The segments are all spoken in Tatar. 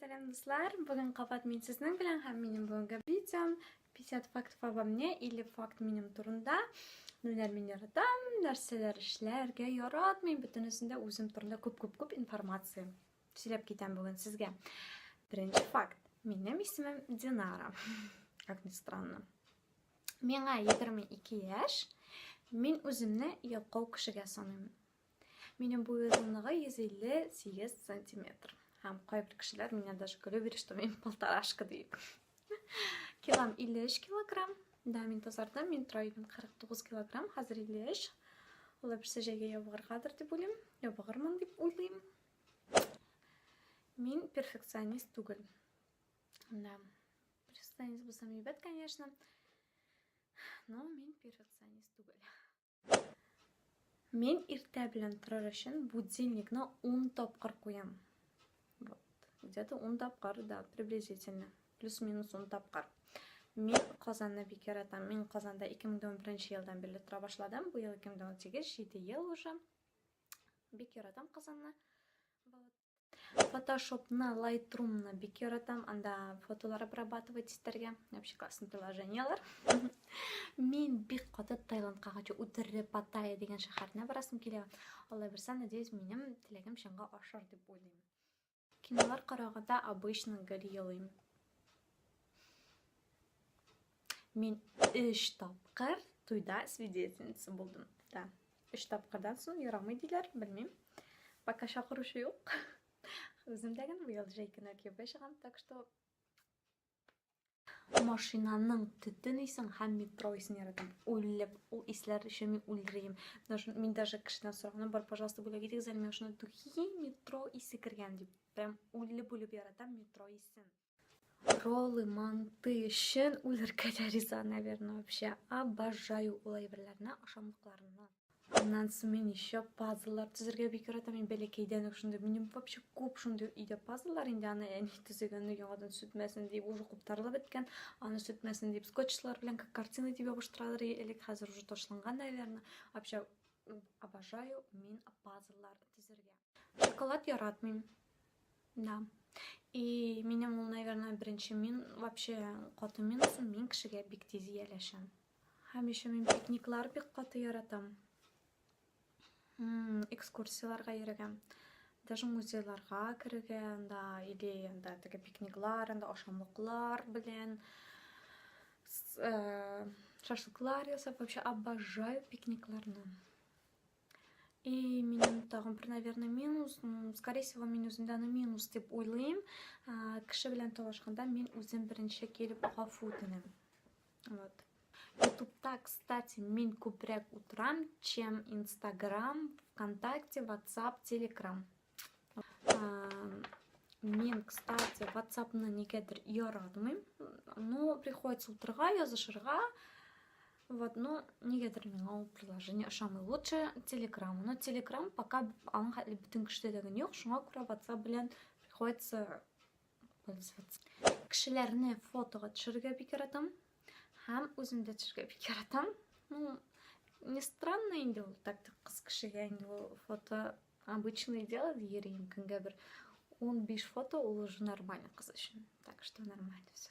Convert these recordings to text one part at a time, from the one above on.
Сәлам дуслар, бүгін қабат мен сіздің білән һәм менің бүгінгі видеом 50 факт обо мне или факт минем турында нәләр мин яратам, нәрсәләр эшләргә яратмыйм, бөтенесен дә үзем турында күп-күп-күп информация сөйләп китәм бүген сезгә. Беренче факт. Минем исемем Динара. Как ни странно. Миңа 22 яшь. Мин үземне ялкау кешегә саныймын. Минем буй озынлыгы 158 сантиметр. Һәм кайбер кешеләр меня даже көлеп йөри, что мин полторашка дип. Килам 53 килограмм. Да, мин тазардым, мин тора идем 49 килограмм, хәзер 53. Ул берсе җәйгә ябыгыргадыр дип уйлыйм, ябыгырмын дип уйлыйм. Мин перфекционист түгел. Да. Перфекционист булсам әйбәт, конечно. Но мин перфекционист түгел. Мин иртә белән торыр өчен будильникны 10 тапкыр куям. Вот. Где-то 10 тапкыр, да, приблизительно. Плюс-минус 10 тапкыр. Мин Казанны бик яратам. Мин Казанда 2011 елдан бирле тора башладым. Бу ел 2018, 7 ел уже. Бик яратам Казанны. Вот. Фотошопны, лайтрумны бик яратам. Анда фотолар обрабатывать итәргә. Вообще классный приложениялар. Мин бик каты Таиландка хочу үтерре Паттайя дигән шәһәренә барасым килә. Алла бирсә, надеюсь, минем теләгем чынга ашар дип уйлыйм. Кинолар караганда обычно гел елыйм. Мин өч тапкыр туйда свидетельница булдым. Да. Өч тапкырдан соң ярамый диләр, белмим. Пока чакыручы юк. Үземдә генә быел җәйкенә кияүгә чыгам, так что машинаның төтен исен һәм метро исен яратам. Үлеп, ул исләр өчен мин үлрим. Мин даже кешедән сораган бар, пожалуйста, бүләк итегез әле миңа шуны духи метро исе кергән дип. Прям үлеп-үлеп яратам метро исен. Роллы, манты, шен үләргә дә риза, наверное, вообще. Обожаю ул әйберләрне, ашамлыкларны. Аннан соң мин еще пазллар төзергә бик яратам. Мин бәләкәйдән үк шундый. Минем вообще күп шундый өйдә пазллар инде аны әни төзегән яңадан сүтмәсен дип уже куптарылып беткән. Аны сүтмәсен дип скотчлар белән как картина дип ябыштыралар элек, хәзер уже ташланган, наверное. Вообще обожаю мин пазллар төзергә. Шоколад яратмыйм. Да. И минем ул, наверное, беренче мин вообще каты минусы, мин кешегә бик тиз ияләшәм. Һәм еще мин пикниклар бик каты яратам. Экскурсияларга йөрегәм. Даже музейларга керергә, анда или анда теге пикниклар, анда ашамлыклар белән э, шашлыклар ясап, вообще обожаю пикникларны. И минем тагын бер, наверное, минус, ну, скорее всего, мин үземдә аны минус дип уйлыйм. Кеше белән талашканда мин үзем беренче килеп гафу үтенәм. Вот. Ютубта, кстати, мин күбрәк утырам, чем Инстаграм, ВКонтакте, Ватсап, Телеграм. Мен, кстати, WhatsApp-ны нигәдер яратмыйм. Ну, приходится утырга язышырга. Вот, ну, нигәдер миңа ул приложение ошамый. Лучше Telegram. Но Telegram пока аның хәтле бөтен кешедә дә юк. Шуңа күрә WhatsApp белән приходится Кешеләрне фотога төшерергә бик яратам. Һәм үзем дә төшерергә бик яратам. Ну, не странно инде ул так кыз кешегә инде ул фото обычное дело дигерим. Көнгә бер 15 фото ул уже нормально кыз өчен. Так что нормально все.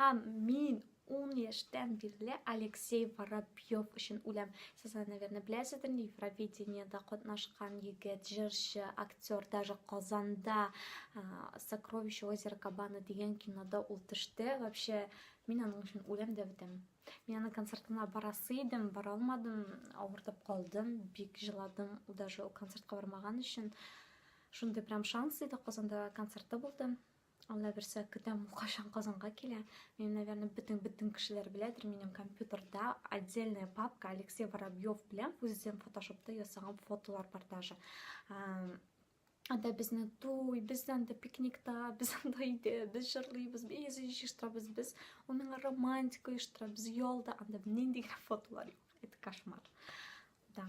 Һәм мин 10 яшьтән бирле Алексей Воробьев өчен үләм. Сез аны, наверное, беләсездер, Евровидениедә катнашкан егет, җырчы, актер, даже Казанда Сокровище озера Кабана дигән кинода ул төште. Вообще, мин аның өчен үләм дә бетәм. Мин аның концертына барасы идем, бара алмадым, авыртып калдым, бик җыладым, даже ул концертка бармаган өчен. Шундый прям шанс иде, Казанда концерты булды. Алла берсе көтәм кашан Казанга килә. Мин, наверное, бөтен бөтен кешеләр беләдер, минем компьютерда отдельная папка Алексей Воробьев белән үзем фотошопта ясаган фотолар бар даже. Анда безне туй, без анда пикникта, без анда өйдә, без җырлыйбыз, без җыштырабыз, без уның романтика оештырабыз, ялда анда нинди фотолар юк. Это кошмар. Да.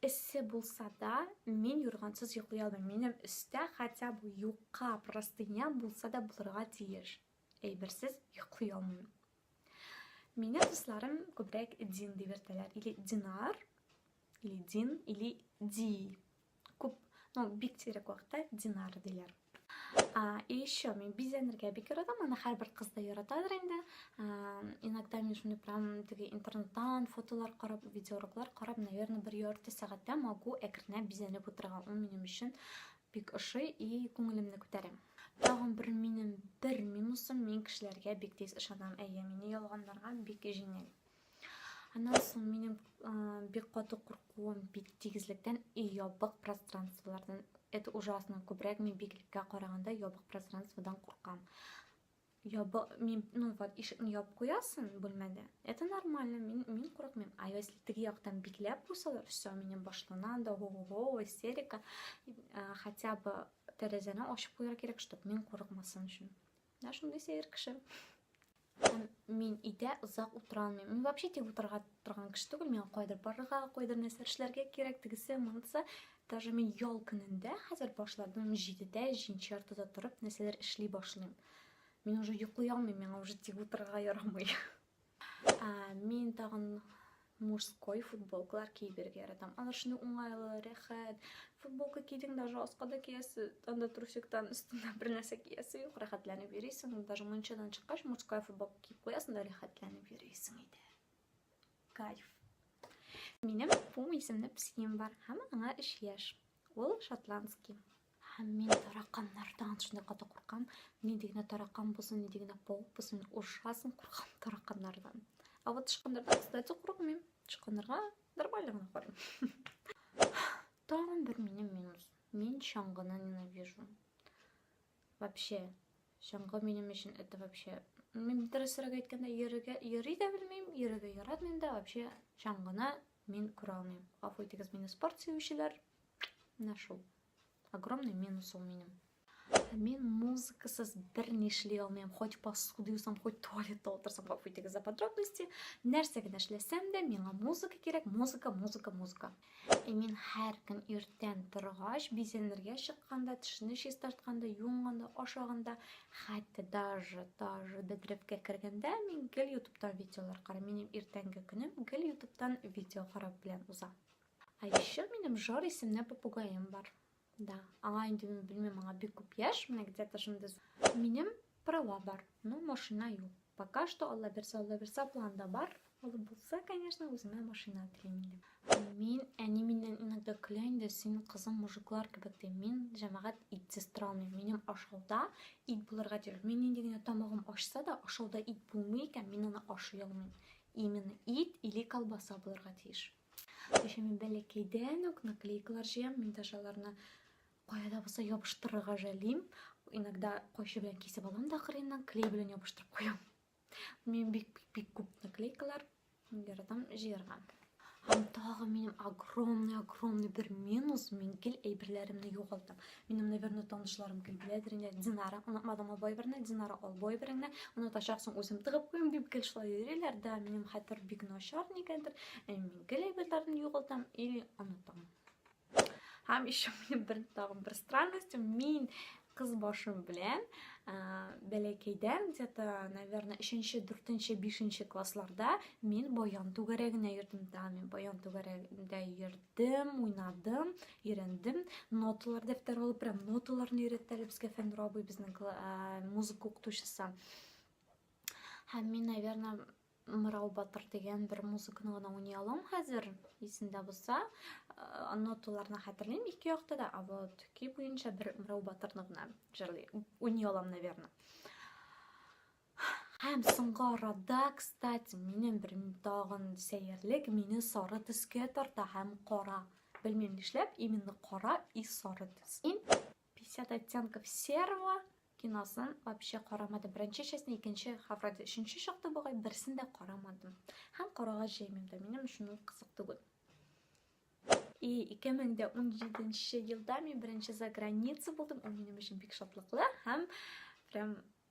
Эссе булса да, мин юргансыз йоклый алмыйм. Минем өстә хотя бы юка простыня булса да булырга тиеш. Әйберсез йоклый алмыйм. Мине дусларым күбрәк Дин дип йөртәләр. Или Динар, или Дин, или Ди. Күп, ну, бик сирәк вакытта динар диләр. А, и еще мен бизәнергә бик яратам, аны һәрбер кыз да яратадыр инде. Иногда мин шундый прям теге интернеттан фотолар карап, видеоуроклар карап, наверное, бер ярты сәгатьтә могу әкренләп бизәнеп утырырга. Ул минем өчен бик ошый и күңелемне күтәрә. Тагын бер минем бер минусым, мин кешеләргә бик тиз ышанам. Әйе, мине ялганларга бик җиңел. Аннан соң минем бик каты куркуым бит тигезлектән и ябык пространстволардан. Это ужасно. Күбрәк мин биклеккә караганда ябык пространстводан куркам. Ябы, мин, ну вот, ишекне ябып куясың бүлмәдә. Это нормально, мин, мин курыкмыйм. А если теге яктан бикләп куйсалар, все, минем башлана анда го-го-го, истерика. Хотя бы тәрәзәне ачып куярга кирәк, чтобы мин курыкмасын өчен. Менә шундый сәер кеше. Һәм мин өйдә озак утыра алмыйм. Мин вообще тик утырырга торган кеше түгел. Миңа кайдыр барырга, кайдыр нәрсә эшләргә кирәк, тегесе, монысы. Даже мин ял көнендә хәзер башладым 7-дә, 7 яртыда торып, нәрсәләр эшли башлыйм. Мин уже йоклый алмыйм, миңа уже тик утырырга ярамый. Мин тагын мужской футболкалар киеп йөрергә яратам. Алар шуны уңайлы, рәхәт. Футболка кидең, даже аска да киясе, анда трусиктан өстенә бер нәрсә киясе юк, рәхәтләнеп йөрисең. Даже мунчадан чыккач, мужская футболка киеп куясың да рәхәтләнеп йөрисең иде. Кайф. Минем Пум исемле псием бар һәм аңа 3 яшь. Ул шотландский. Һәм мин тараканнардан шундый каты куркам. Нинди генә таракан булсын, нинди генә паук булсын, ужасын куркам тараканнардан. А вот тычканнардан, кстати, курыкмыйм. Тычканнарга нормально гына карыйм. Тагын бер минем минус. Мин чаңгыны ненавижу. Вообще, чаңгы минем өчен это вообще... Мин дөресрәк әйткәндә, йөрергә йөри дә белмим, йөрергә яратмыйм да, вообще чаңгыны Мин күрә алмыйм. Гафу итегез мине спорт сөючеләр. Менә шул. Огромный минус ул минем. Мин музыкасыз бер ни эшли алмыйм. Хоть посуда юсам, хоть туалетта утырсам, гафу итегез за подробности. Нәрсә генә эшләсәм дә, миңа музыка кирәк, музыка, музыка, музыка. И мин һәр көн иртән торгач, бизәнергә чыкканда, тешне чистартканда, юынганда, ашаганда, Хәтта даже, даже бедрепкә кергәндә мин гел ютубтан видеолар карам. Минем иртәнге көнем гел ютубтан видео карап белән уза. А еще минем Жор исемле попугаем бар. Да, аңа инде мин белмим, аңа бик күп яшь, менә где-то шундый. Минем права бар, но машина юк. Пока что Алла берсе, Алла берсе планда бар. Ул булса, конечно, үземә машина телим инде. Мин әни миннән иногда көлә инде, син кызым мужиклар кебек ди. Мин җәмәгать итсез тора алмыйм. Минем ашауда ит булырга тиеш. Мин нинди генә тамагым ачса да, ашауда ит булмый икән, мин аны ашый алмыйм. Именно ит или колбаса булырга тиеш. Еще мин бәләкәйдән үк наклейкалар җыям, мин даже аларны Кая да булса ябыштырырга жәлим. Иногда кайчы белән кисеп алам да кырыеннан, клей белән ябыштырып куям. Мин бик бик бик күп наклейкалар яратам җыярга. Һәм тагы минем огромный огромный бер минус, мин гел әйберләремне югалтам. Минем, наверное, танышларым гел беләдер инде. Динара, онытмадым ул бойберне, Динара ул бойбереңне, онытачаксың үзем тыгып куям дип гел шулай йөриләр, да минем хәтер бик начар нигәдер. Мин гел әйберләрне югалтам или онытам. Һәм еще минем бер тагын бер странность, мин кыз башым белән ә, бәләкәйдән где-то, наверное, 3-нче, 4-нче, 5-нче классларда мин баян түгәрәгенә йөрдем. Да, мин баян түгәрәгендә йөрдем, уйнадым, өйрәндем. Ноталар дәфтәр алып, прям ноталарны өйрәттеләр безгә Фәннүр абый безнең музыка укытучысы. Һәм мин, наверное, Мырау батыр дигән бер музыканы гына уйный алам хәзер, исемдә булса. Э, ноталарны хәтерлим ике якта да, а вот көй буенча бер Мырау батырны гына җырлый, уйный алам, наверное. Һәм соңгы арада, кстати, минем бер тагын сәерлек мине сары төскә тарта һәм кара. Белмим нишләп, именно кара и сары төс. 50 оттенков серого киносын вообще карамадым. Беренче частьне, икенче, һәм вроде өченче чыкты бугай, берсен дә карамадым. Һәм карарга җыймыйм да, минем өчен ул кызык түгел. И 2017 елда мин беренче за граница булдым. Ул минем өчен бик шатлыклы һәм прям